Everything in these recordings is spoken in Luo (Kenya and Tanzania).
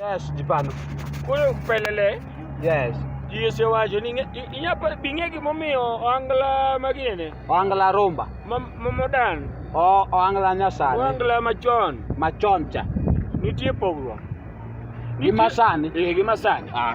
Yes, di paano? Kuya, pelele. Yes. Yesu wacho ni inya bing'e gimomiyo oangla magine oangla rumba momodan o oangla nyasani oangla machon machon cha nitie pogruok gi masani eh gi masani ah.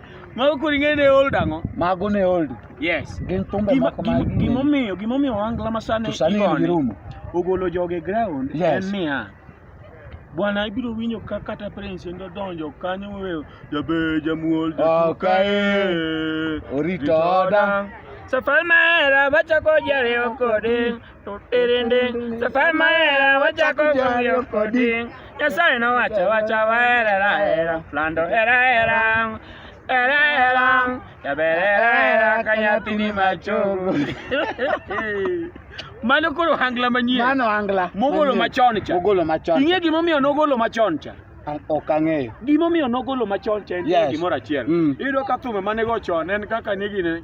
Mago kod ing'eyo ne old ang'o? Mago ne old. Yes. Gin thumbe moko ma gin. Gimomiyo gimomiyo wangla ma sani igoni. Ogolo joge ground en niya. Bwana ibiro winjo ka kata prince ndo donjo kanyo wewe jabe jamuol jatukae. Orito odang. Safari mera bachako jariyo kode. Tutirinding, safari maera, wacha kugongia koding. Nyasaye no wacha wacha waera era era, flando era era. Era era, yabera era era, kanyatini machogo. Mano koro hangla manyien. Mano hangla. Mogolo machon cha. Mogolo machon. Ing'e gimomiyo nogolo machon cha? ok ang'eyo gimomiyo nogolo machon cha en yes. gimoro achiel mm. iyudo ka thumbe mane go chon en kaka nigine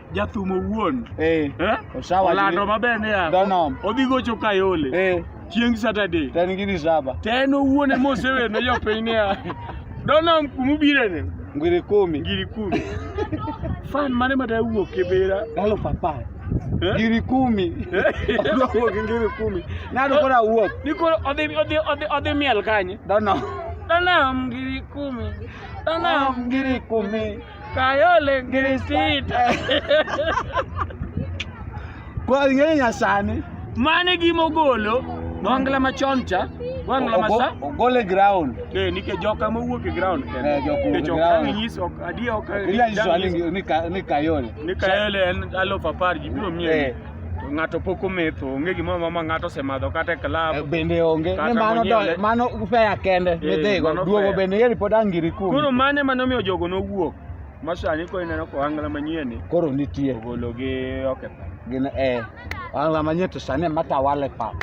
jathum owuon eh, eh? Osawa olando maber niya Donom. odhi gocho Kayole eh, chieng' Saturday to en gi disaba to en owuon ema osewer ne jopiny niya Donom kuma ubirene ngiri kumi ngiri kumi fan mane ma dawuok e bera elfu apar Eh? ngiri kumi Eh? Odwa wuok gi ngiri kumi nado koro awuok ni koro odhi odhi odhi odhi miel kanye Donom Donom ngiri kumi Donom ngiri kumi Kayole Grisita. Kwa ng'e nyasani. Mane gimogolo wangla machon cha wangla masa gole ground eh nike joka mowuok e ground kende eh joka mowuok e ground nyis ok adiya ok ila iso ni ni kayole ni kayole en alof apar ji biro miye eh. To ng'ato pok ometho, onge gimoro amora ma ng'ato osemadho kata e Eh, club. bende onge Kata ni mano monyiew le- do- mano ufeya kende Eh, midhigo mano duogo fair. bende yeri pod angiri Koro kuom mano ema nomiyo jogo nowuok. Ma sani koro ineno ka ohangla manyien ni koro nitie ogologi oketho. gin eh angla manyie to sani ema tawale pap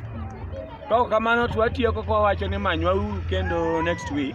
Kaok kamano to watieko kwa wacho ni manywauru kendo next week.